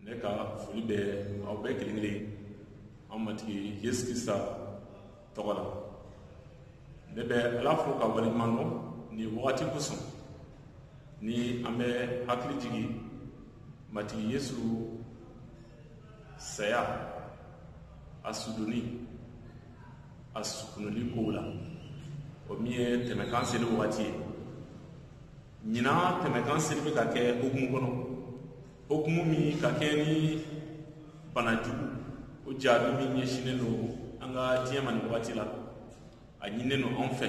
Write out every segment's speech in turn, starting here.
ne ka foli bɛ aw bɛɛ kelen kelen an matigi yesu krista tɔgɔ la ne bɛ ala fo ka waleɲuman dɔn nin wagati kosɔn ni an bɛ hakili jigin matigi yesu saya a sudonni a sukunuli kow la o min ye tɛmɛkan seli wagati ye ɲinan tɛmɛkan seli bɛ ka kɛ hukumu kɔnɔ hukumu min ka kɛɲɛ ni bana jugu o jahadi min ɲɛsinnen don an ka diɲɛ ma nin wagati la a ɲininen don an fɛ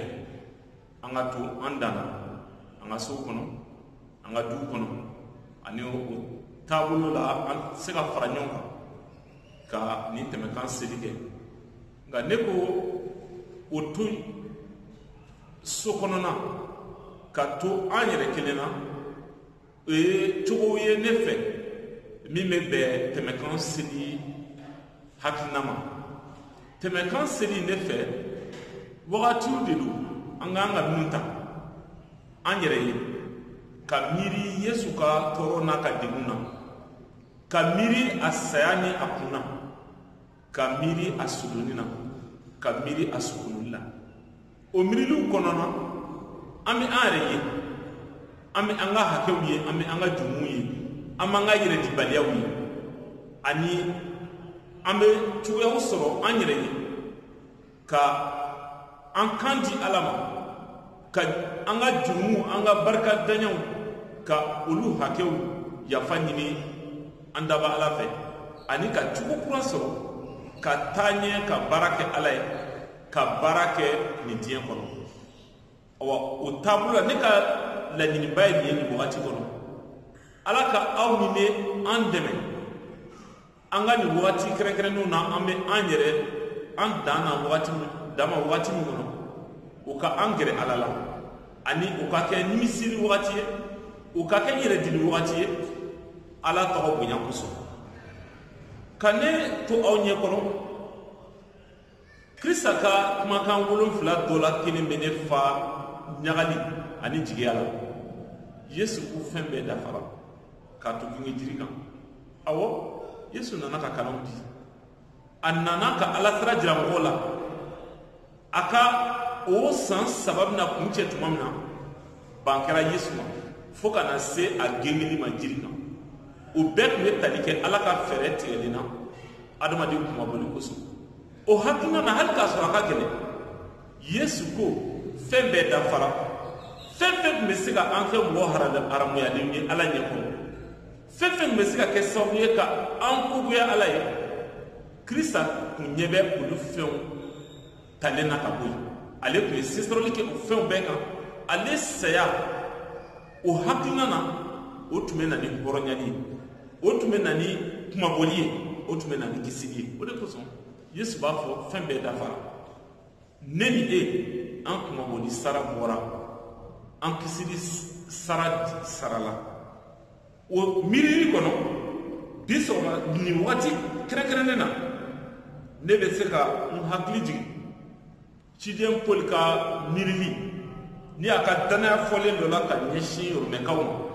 an ka to an dan na an ka sow kɔnɔ an ka duw kɔnɔ ani o taabolo la an tɛ se ka fara ɲɔgɔn kan ka nin tɛmɛkan seli kɛ nka ne ko o to yen so kɔnɔna ka to an yɛrɛ kelen na o ye cogo ye ne fɛ min bɛ bɛn tɛmɛkan seli hakilina ma tɛmɛkan seli ne fɛ wagatiw de don an kan ka min ta an yɛrɛ ye ka miiri yesu ka tɔɔrɔ n'a ka degun na ka miiri a saya ni a kun na ka miiri a sudonni na ka miiri a sukunuli la o miiriliw kɔnɔna an bɛ an yɛrɛ ye an bɛ an ka hakɛw ye an bɛ an ka jurumuw ye an b'an ka yɛrɛdibaliyaw ye ani an bɛ cogoyaw sɔrɔ an yɛrɛ ye ka an kan di ala ma ka an ka jurumuw an ka barikantanyaw ka olu hakɛw yafa ɲini an danbaa ala fɛ ani ka cogo kura sɔrɔ ka taa ɲɛ ka baara kɛ ala ye ka baara kɛ nin diɲɛ kɔnɔ awa o taabolo la ne ka laɲiniba ye nin ye nin wagati kɔnɔ ala ka aw ni ne an dɛmɛ an ka nin wagati kɛrɛnkɛrɛnnenw na an bɛ an yɛrɛ an dan na wagati dan ma wagati min kɔnɔ o ka an gɛrɛ ala la ani o ka kɛ nimisili wagati ye o ka kɛ yɛrɛdili wagati ye ala tɔgɔ bonya kosɔn ka ne to aw ɲɛ kɔrɔ krista ka kumakan wolonfila dɔ la kelen bɛ ne fa ɲagali ani jigiya la yesu ko fɛn bɛɛ dafara k'a to gengenjiri kan awɔ yesu nana ka kalanw di a nana ka ala sira jira mɔgɔw la a ka o san saba bɛna kuncɛ tuma min na ban kɛra yesu ma fo ka na se a gengeli ma jiri kan o bɛɛ tun bɛ tali kɛ ala ka fɛɛrɛ tigɛlen na adamaden kunmabɔli kosɔn o hakilina na hali k'a sɔrɔ a ka gɛlɛn yesu ko fɛn bɛɛ dafara fɛn fɛn tun bɛ se ka an kɛ mɔgɔ haramuyalenw ye ala ɲɛ kɔrɔ fɛn fɛn tun bɛ se ka kɛ sababu ye ka an kogoya ala ye krista tun ɲɛ bɛ olu fɛnw talen na ka bɔ yen ale tun ye sesɔrɔli kɛ o fɛnw bɛɛ kan ale saya o hakilina na o tun bɛ na ni hɔrɔnyali ye o tun bɛ na ni kunmabɔli ye o tun bɛ na ni kisili ye o de kosɔn yesu b'a fɔ fɛn bɛɛ dafara ne ni e an kunmabɔli sara bɔra an kisili sara sarala o miirili kɔnɔ bi sɔgɔma nin wagati kɛrɛnkɛrɛnnen na ne bɛ se ka n hakili jigin ciden poli ka miirili ni a ka dannaya fɔlen dɔ la ka ɲɛsin romɛkaw ma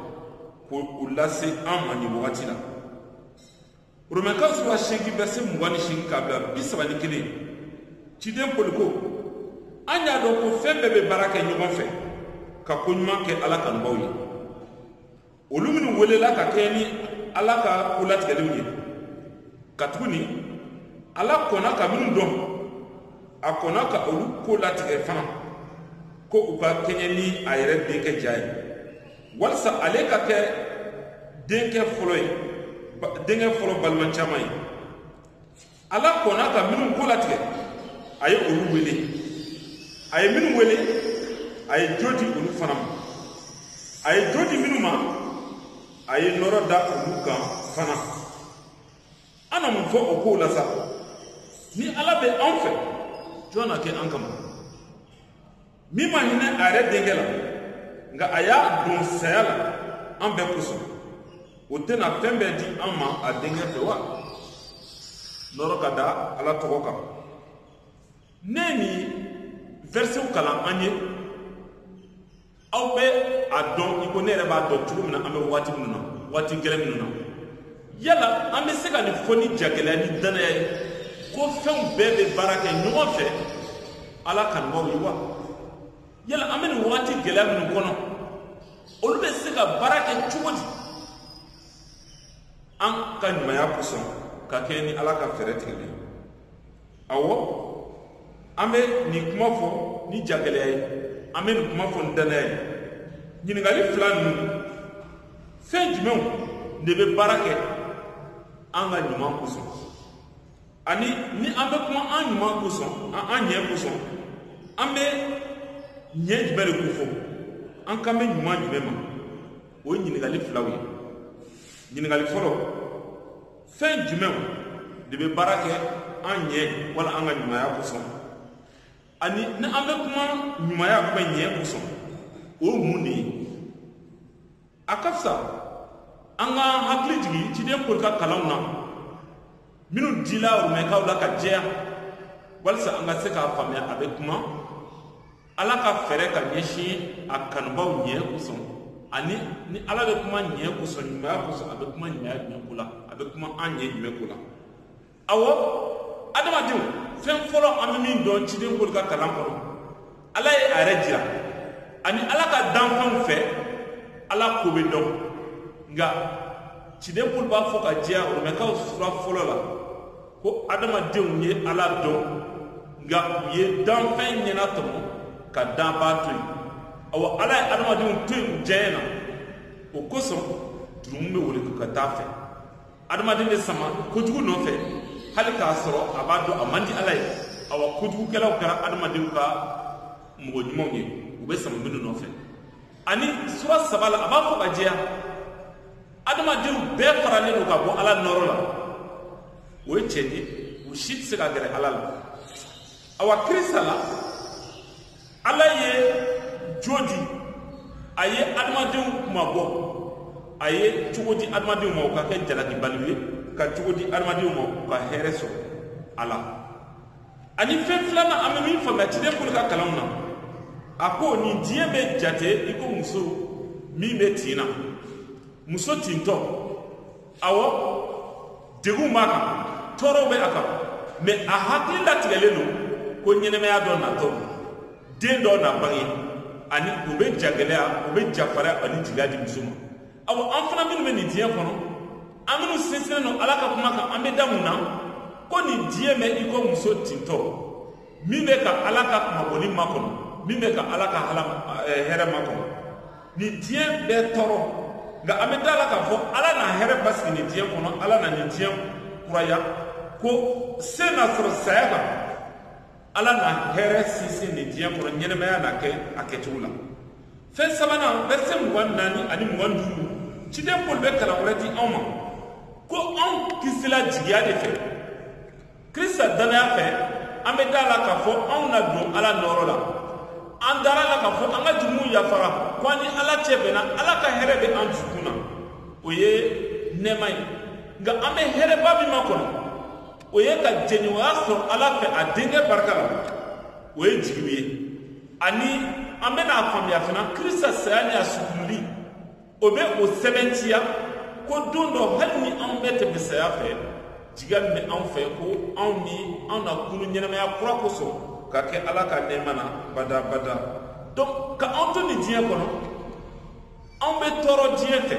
k'o lase an ma nin wagati la romɛkaw sura seegin vɛrise mugan ni seegin k'a bila bi saba ni kelen ciden poli ko an y'a dɔn ko fɛn bɛɛ bɛ baara kɛ ɲɔgɔn fɛ ka ko ɲuman kɛ ala kanubaw ye olu minnu welela ka kɛɲɛ ni ala ka ko latigɛlenw ye katuguni ala kɔnna ka minnu dɔn a kɔnna ka olu ko latigɛ fana ko u ka kɛɲɛ ni a yɛrɛ denkɛ ja ye walisa ale ka kɛ denkɛ fɔlɔ ye denkɛ fɔlɔ balima caman ye ala kɔnna ka minnu ko latigɛ a ye olu wele a ye minnu wele a ye jo di olu fana ma a ye jo di minnu ma a ye nɔrɔ da olu kan fana an na mun fɔ o kow la sa ni ala bɛ an fɛ jɔn na kɛ an kama min ma hinɛ a yɛrɛ denkɛ la nka a y'a don saya la an bɛɛ kosɔn o tɛna fɛn bɛɛ di an ma a denkɛ fɛ wa nɔrɔ ka da ala tɔgɔ kan ne nin vɛrisew kalan an ye aw bɛ a dɔn i ko ne yɛrɛ b'a dɔn cogo min na an bɛ waati minnu na waati gɛlɛn minnu na yala an bɛ se ka nin fɔ ni jagɛlɛya ni dannaya ye ko fɛnw bɛɛ bɛ baara kɛ ɲɔgɔn fɛ ala kanubaaw ye wa yala an bɛ nin wagati gɛlɛya minnu kɔnɔ olu bɛ se ka baara kɛ cogo di an ka ɲumanya kosɔn ka kɛɲɛ ni ala ka fɛɛrɛ tigɛli ye awɔ an bɛ nin kuma fɔ ni jagɛlɛya ye an bɛ nin kuma fɔ ni dannaya ye ɲininkali fila ninnu fɛn jumɛnw de bɛ baara kɛ an ka ɲuman kosɔn ani ni an bɛ kuma an ɲuman kosɔn an ɲɛ kosɔn an bɛ ɲɛ jumɛn de kofɔ an kan bɛ ɲuman jumɛn ma o ye ɲininkali filaw ye ɲininkali fɔlɔ fɛn jumɛnw de bɛ baara kɛ an ɲɛ wala an ka ɲumanya kosɔn ani ni an bɛ kuma ɲumanya kuma ɲɛ kosɔn o ye mun de ye a ka fisa an ka hakili jigin ciden pɔli ka kalanw na minnu dila rumɛkaw la ka jɛya walisa an ka se k'a faamuya a bɛ kuma ala ka fɛɛrɛ ka ɲɛsin a kanubaaw ɲɛ kosɔn ani ni ala bɛ kuma ɲɛ kosɔn ɲumanya kosɔn a bɛ kuma ɲumanya jumɛn ko la a bɛ kuma an ɲɛ jumɛn ko la awɔ adamadenw fɛn fɔlɔ an bɛ min dɔn ciden pɔli ka kalan kɔnɔ ala ye a yɛrɛ jira ani ala ka danfɛnw fɛ ala ko bɛ dɔn nka ciden pɔli b'a fɔ ka jɛya rumɛkaw sura fɔlɔ la ko adamadenw ye ala dɔn nka u ye danfɛn ɲɛnatɔmɔ ka danbaa to yen awa ala ye adamadenw to yen u diyaɲɛ na o kosɔn jurumu bɛ wele ka taa fɛ adamaden bɛ sama kojugu nɔfɛ hali k'a sɔrɔ a b'a dɔn a man di ala ye awa kojugukɛlaw kɛra adamadenw ka mɔgɔ ɲumanw ye u bɛ sama minnu nɔfɛ ani sura saba la a b'a fɔ ka jɛya adamadenw bɛɛ faralen don ka bɔ ala nɔɔrɔ la o ye tiɲɛ ye u si tɛ se ka gɛrɛ ala la awa krista la ala ye jo di a ye adamadenw kunmabɔ a ye cogo di adamadenw ma u ka kɛ jalakibaliw ye ka cogo di adamadenw ma u ka hɛrɛ sɔrɔ a la ani fɛn filanan an bɛ min faamuya ciden pɔli ka kalanw na a ko nin diɲɛ bɛ jate i ko muso min bɛ tin na muso tintɔ awɔ degun b'a kan tɔɔrɔw bɛ a kan mɛ a hakili latigɛlen don ko ɲɛnamaya dɔ natɔ den dɔ na bange ani o bɛ jagɛlɛya o bɛ jafariya ani jigiya di muso ma awa an fana minnu bɛ nin diɲɛ kɔnɔ an minnu sinsinnen don ala ka kuma kan an bɛ da mun na ko nin diɲɛ bɛ i ko muso tintɔ min bɛ ka ala ka kunmabɔli makɔnɔ min bɛ ka ala ka eh, hɛrɛ makɔnɔ nin diɲɛ bɛ tɔɔrɔ nka an bɛ da la k'a fɔ ala na hɛrɛ basigi nin diɲɛ kɔnɔ ala na nin diɲɛ kuraya ko se na sɔrɔ saya kan ala na hɛrɛ sinsin nin diɲɛ kɔnɔ ɲɛnamaya na kɛ a kɛcogo la fɛn sabanan vɛrisɛ mugan naani ani mugan duuru ciden pɔli bɛ kalan wɛrɛ di anw ma ko anw kisila jigiya de fɛ krista dannaya fɛ an bɛ da la k'a fɔ anw na don ala nɔɔrɔ la an dara la k'a fɔ an ka jurumuw yafara ko an ni ala cɛ bɛnna ala ka hɛrɛ bɛ an dusukun na o ye nɛɛma ye nka an bɛ hɛrɛba min makɔnɔ o ye ka jɛɲɔgɔnya sɔrɔ ala fɛ a denkɛ barika la o ye jigiw ye ani an bɛna a faamuya fana kirisita saya ni a sukunuli o bɛ o sɛbɛntiya ko don dɔ hali ni anw bɛ tɛmɛ saya fɛ jigiya min bɛ anw fɛ ko anw ni anw na kunu ɲɛnamaya kura kosɔn ka kɛ ala ka nɛɛma na badabada donc ka anw to nin diɲɛ kɔnɔ anw bɛ tɔɔrɔ diɲɛ fɛ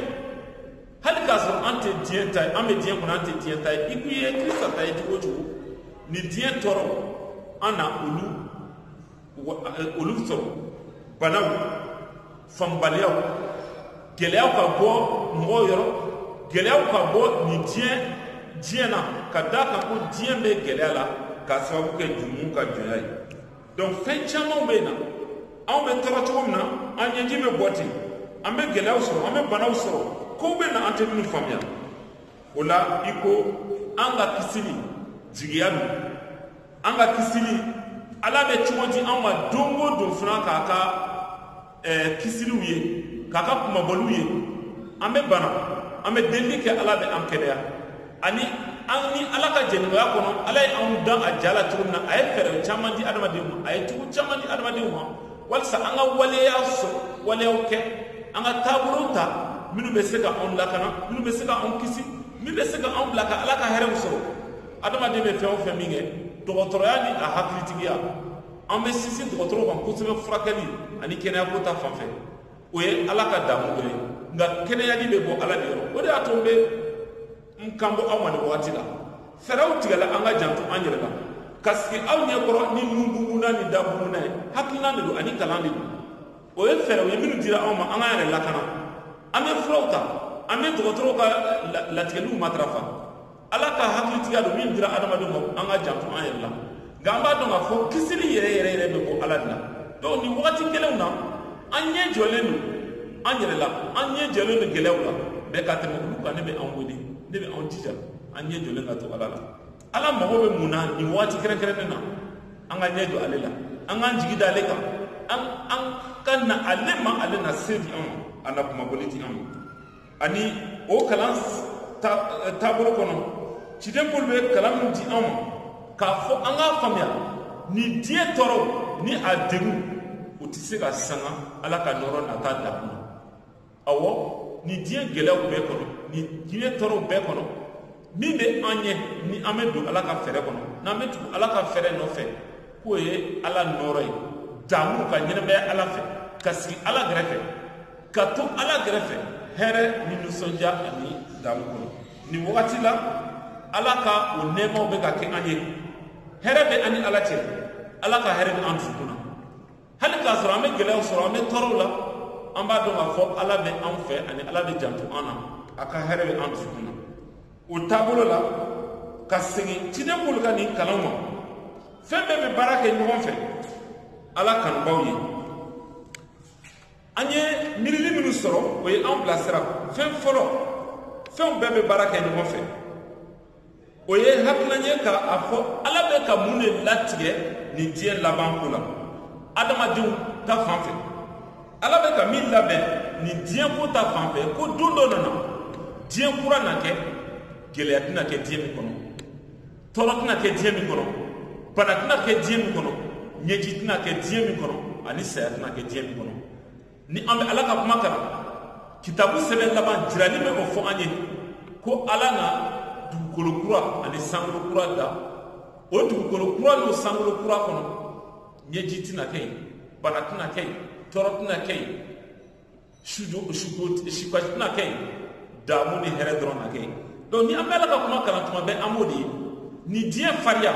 hali k'a sɔrɔ an tɛ diɲɛ ta ye an bɛ diɲɛ kɔnɔ an tɛ diɲɛ ta ye i kun ye kirisita ta ye cogo o cogo nin diɲɛ tɔɔrɔ an na olu eh, olu sɔrɔ banaw faamubaliyaw gɛlɛyaw ka bɔ mɔgɔw yɔrɔ gɛlɛyaw ka bɔ nin diɲɛ diɲɛ na ka d'a kan ko diɲɛ bɛ gɛlɛya la k'a sababu kɛ jurumu ka jɔnya ye donc fɛn camanw bɛ yen n'anw bɛ tɔɔrɔ cogo min na an ɲɛji bɛ bɔ ten an bɛ gɛlɛyaw sɔrɔ an bɛ banaw sɔrɔ kow bɛ na an tɛ minnu faamuya o la i ko an ka kisili jigiya don an ka kisili ala bɛ cogo di an ma don o don fana k'a ka ɛɛ kisiliw ye k'a ka kunmabɔliw ye an bɛ bana an bɛ delili kɛ ala bɛ an kɛnɛya ani an ni ala ka jɛɲɔgɔnya kɔnɔ ala ye anw dan a ja la cogo min na a ye fɛɛrɛ caman di adamadenw ma a ye cogo caman di adamadenw ma walisa an ka waleya sɔrɔ waleyaw kɛ an ka taabolow ta minnu bɛ se ka anw lakana minnu bɛ se ka anw kisi min bɛ se ka anw bila ka ala ka hɛrɛw sɔrɔ adamaden bɛ fɛn o fɛn min kɛ dɔgɔtɔrɔya ni a hakilitigiya an bɛ sinsin dɔgɔtɔrɔw kan kosɛbɛ furakɛli ani kɛnɛyako ta fanfɛ o ye ala ka damu dɔ ye nka kɛnɛyali bɛ bɔ ala de yɔrɔ o de y'a to n bɛ n kanbɔ aw ma nin wagati la fɛɛrɛw tigɛla an ka janto an yɛrɛ la ka sigi aw ɲɛ kɔrɔ ni nunbugunna ni dabugunna ye hakilina de don ani kalan de don o ye fɛɛrɛw ye minnu dira anw ma an k'an yɛrɛ lakana an bɛ furaw ta an bɛ dɔgɔtɔrɔw ka latigɛliw matarafa ala ka hakilitigiya don min dira adamaden ma an ka janto an yɛrɛ la nka an b'a dɔn k'a fɔ kisili yɛrɛ yɛrɛ yɛrɛ bɛ bɔ ala de la donc nin wagati gɛlɛnw na an ɲɛ jɔlen don an yɛrɛ la an ɲɛ jɔlen don gɛlɛyaw la mais ka tɛmɛ olu kan ne bɛ an wele ne bɛ an jija an ɲɛ jɔlen ka to ala la ala mago bɛ mun na nin wagati kɛrɛnkɛrɛnnen na an ka ɲɛ jɔ ale la an k'an jigi da ale kan an an ka na ale ma ale na se di an ma a na kunmabɔli di an ma ani o kalan eh, taabolo kɔnɔ ciden pɔli bɛ kalan min di anw ma k'a fɔ an k'a faamuya nin diɲɛ tɔɔrɔ ni a degun o tɛ se ka sanga ala ka nɔɔrɔ nata dakun na awɔ nin diɲɛ gɛlɛyaw bɛɛ kɔnɔ nin diɲɛ tɔɔrɔw bɛɛ kɔnɔ min bɛ an ɲɛ ni an bɛ don ala ka fɛɛrɛ kɔnɔ n'an bɛ tugu ala ka fɛɛrɛ nɔfɛ k'o ye ala nɔɔrɔ ye damu ka ɲɛnamaya ala fɛ ka sigi ala gɛrɛfɛ ka to ala gɛrɛfɛ hɛrɛ ni nisɔndiya ani damu kɔnɔ nin wagati la ala ka o nɛɛmaw bɛ ka kɛ an ye hɛrɛ bɛ an ni ala cɛ ala ka hɛrɛ bɛ an dusukun na hali k'a sɔrɔ an bɛ gɛlɛyaw sɔrɔ an bɛ tɔɔrɔw la an b'a dɔn k'a fɔ ala bɛ an fɛ ani ala bɛ janto an na a ka hɛrɛ bɛ an dusukun na o taabolo la ka segin ciden pɔli ka nin kalan ma fɛn bɛɛ bɛ baara kɛ ɲɔgɔn fɛ ala kanubaaw ye an ye miirili minnu sɔrɔ o ye an bilasira fɛn fɔlɔ fɛnw bɛɛ bɛ baara kɛ ɲɔgɔn fɛ o ye hakilina ye ka a fɔ ala bɛ ka mun de latigɛ nin diɲɛ laban ko la adamadenw ta fan fɛ ala bɛ ka min labɛn nin diɲɛ ko ta fan fɛ ko don dɔ na na diɲɛ kura na kɛ gɛlɛya tɛna kɛ diɲɛ min kɔnɔ tɔɔrɔ tɛna kɛ diɲɛ min kɔnɔ bana tɛna kɛ diɲɛ min kɔnɔ ɲɛji tɛna kɛ diɲɛ min kɔnɔ ani saya tɛna kɛ diɲɛ min kɔnɔ ni an bɛ ala ka kuma kalan kitabu sɛbɛn laban jirali bɛ o fɔ an ye ko ala na dugukolo kura ani sankolo kura da o dugukolo kura n'o sankolo kura kɔnɔ ɲɛji tɛna kɛ yen bana tɛna kɛ yen tɔɔrɔ tɛna kɛ yen suko si tɛna kɛ yen damu ni hɛrɛ dɔrɔn na kɛ yen donc ni an bɛ ala ka kuma kalan tuma bɛɛ an b'o de ye nin diɲɛ fariya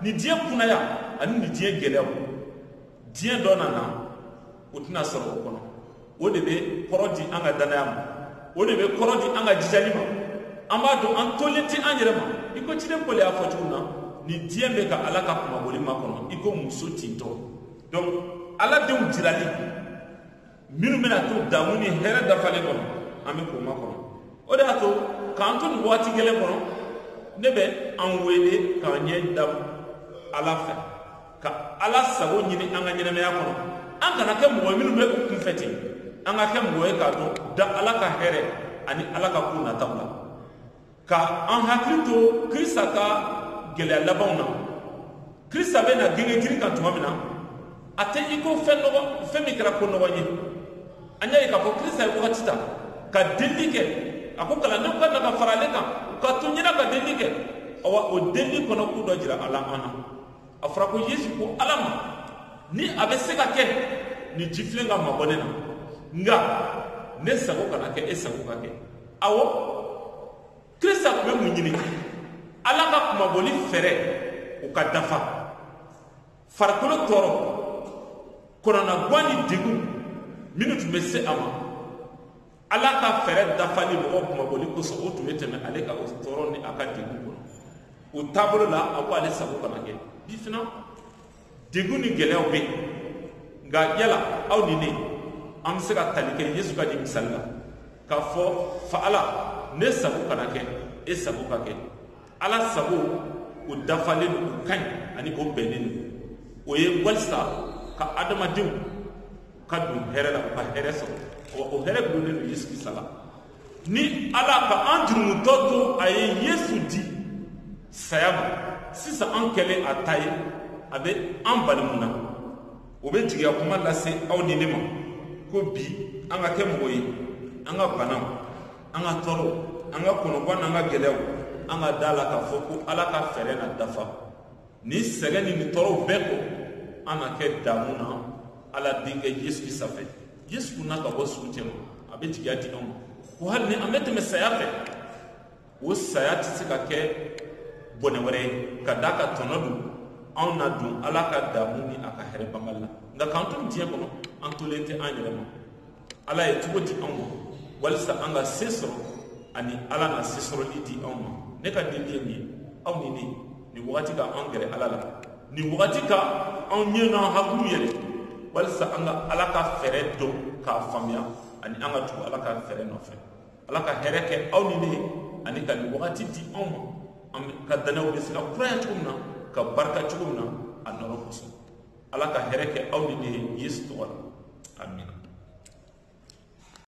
nin diɲɛ kunaya ani nin diɲɛ gɛlɛyaw diɲɛ dɔ na na o tɛna sɔrɔ o kɔnɔ o de bɛ kɔrɔ di an ka dannaya ma o de bɛ kɔrɔ di an ka jijali ma an b'a dɔn an tolen tɛ an yɛrɛ ma i ko ciden pɔli y'a fɔ cogo min na nin diɲɛ bɛ ka ala ka kunmabɔli makɔnɔ i ko muso tintɔ donc ala denw jirali minnu bɛna to damu ni hɛrɛ dafalen kɔnɔ an bɛ k'o makɔnɔ o de y'a to k'an to nin waati gɛlɛn kɔnɔ ne bɛ an wele k'an ɲɛ da ala fɛ ka ala sago ɲini an ka ɲɛnamaya kɔnɔ an kana kɛ mɔgɔ minnu bɛ u kunfɛ ten an ka kɛ mɔgɔ ye k'a dɔn da ala ka hɛrɛ ani ala ka ko nataw la ka an hakili to krista ka gɛlɛya labanw na krista bɛ na gengenjiri kan tuma min na a tɛ i ko fɛn nɔgɔ fɛn min kɛra ko nɔgɔ ye an y'a ye k'a fɔ krista ye wagati ta ka delili kɛ a ko kalandenw ka na ka fara ale kan ka to ɲɛna ka delili kɛ awa o delili kɔnɔ ko dɔ jirala an na a fɔra ko yesu ko ala ma ni a bɛ se ka kɛ nin jifilen ka mabɔ ne na nka ne sago kana kɛ e sago ka kɛ awo krista tun bɛ mun ɲini ala ka kunmabɔli fɛɛrɛ o ka dafa farikolo tɔɔrɔ kɔnɔnagwan ni degun minnu tun bɛ se a ma ala ka fɛɛrɛ dafali mɔgɔ kunmabɔli kosɔn o tun bɛ tɛmɛ ale ka o tɔɔrɔ ni a ka degun kɔnɔ o taabolo la a ko ale sago kana kɛ bi fana degun ni gɛlɛyaw bɛ yen nka yala aw ni ne an bɛ se ka tali kɛ yesu ka di misali la k'a fɔ fa ala ne sago kana kɛ e sago ka kɛ ala sago o dafalen don o ka ɲi ani o bɛnnen don o ye walisa ka adamadenw ka don hɛrɛ la u ka hɛrɛ sɔrɔ wa o hɛrɛ dulonnen don yesu krista la ni ala ka an jurumutɔ to a ye yesu di saya ma sisan an kɛlen a ta ye a bɛ an bali mun na o bɛ jigiya kuma lase aw ni ne ma ko bi an ka kɛ mɔgɔ ye an ka banaw an ka tɔɔrɔw an ka kɔnɔgwan n'an ka gɛlɛyaw an ka da la k'a fɔ ko ala ka fɛɛrɛ na dafa Nin sɛgɛn ni nin tɔɔrɔw bɛɛ kɔ an na kɛ damu na ala denkɛ yesu krista fɛ yesu kunna ka bɔ suw cɛma a bɛ jigiya di anw ma ko hali ni an bɛ tɛmɛ saya fɛ o saya tɛ se ka kɛ bɔnɛ wɛrɛ ye ka da a kan tɔnɔ don anw na don ala ka damu ni a ka hɛrɛ banbali la nka k'an to diɲɛ kɔnɔ an tolen tɛ an yɛrɛ ma ala ye cogo di anw ma walisa an ka se sɔrɔ ani ala na se sɔrɔli di anw ma ne ka delili ye nin ye aw ni ne ye nin wagati ka an gɛrɛ ala la nin wagati ka anw ɲɛ n'an hakiliw yɛlɛ walisa an ka ala ka fɛɛrɛ dɔn k'a faamuya ani an ka tugu ala ka fɛɛrɛ nɔfɛ ala ka hɛrɛ kɛ aw ni ne ye ani ka nin wagati di anw ma an ka danaw bɛ se ka kuraya cogo min na ka barika cogo min na a nɔrɔ kosɔn ala ka hɛrɛ kɛ aw ni ne ye yesu tɔgɔ la amina